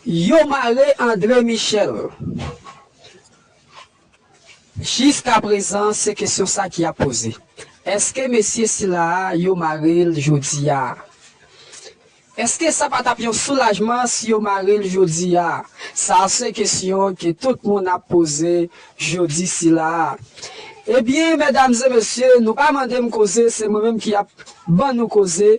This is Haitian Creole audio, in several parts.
Yo mare Andre Michel. Jiska prezan se kesyon sa ki ap poze. Eske mesye sila a yo mare l jodi a? Eske sa pa t ap yon soulajman si yo mare l jodi a? Sa se kesyon ke tout moun ap poze jodi sila a. Ebyen medam e mesye nou pa mande m koze se mwen menm ki ap ban nou koze.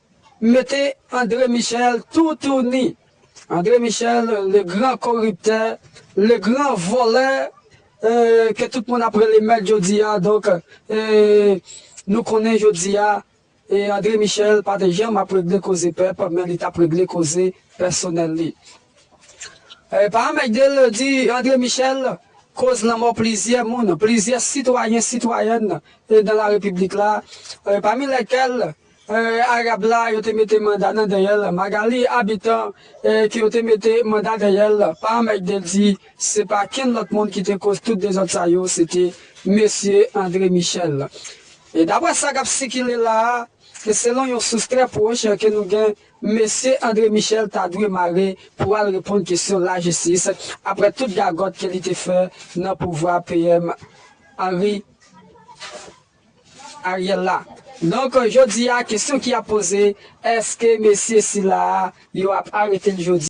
Mete Andre Michel tou tou ni. Andre Michel le gran koriptè le gran vòlè ke tout moun ap rele mèt jodia donk nou konnen jodia Andre Michel pa te janm ap regle koze pèp men li tap regle koze pèsonèl li Pam Egdel di Andre Michel koz lanmò plizyè moun plizyè sitwayen sitwayèn dan la repiblik la pami lèkèl Arab la yo te mete manda nan dèyè l Magalie Habitant ke yo te mete manda dèyè l pa anmègde l di se pa kenn lòt moun ki te koz tout dezòd sa yo se te Mesye André Michel e daprè sa k ap sikile la a e selon yon sous trè pwoch ke nou gen Mesye André Michel ta dwe mare pou al reponn kesyon lajistis aprè tout gagòt ke li te fè nan pouvwa PM Henry Ariel la. Donk jodi a kesyon ki ap poze, eske mesye sila a yo ap arete l jodi?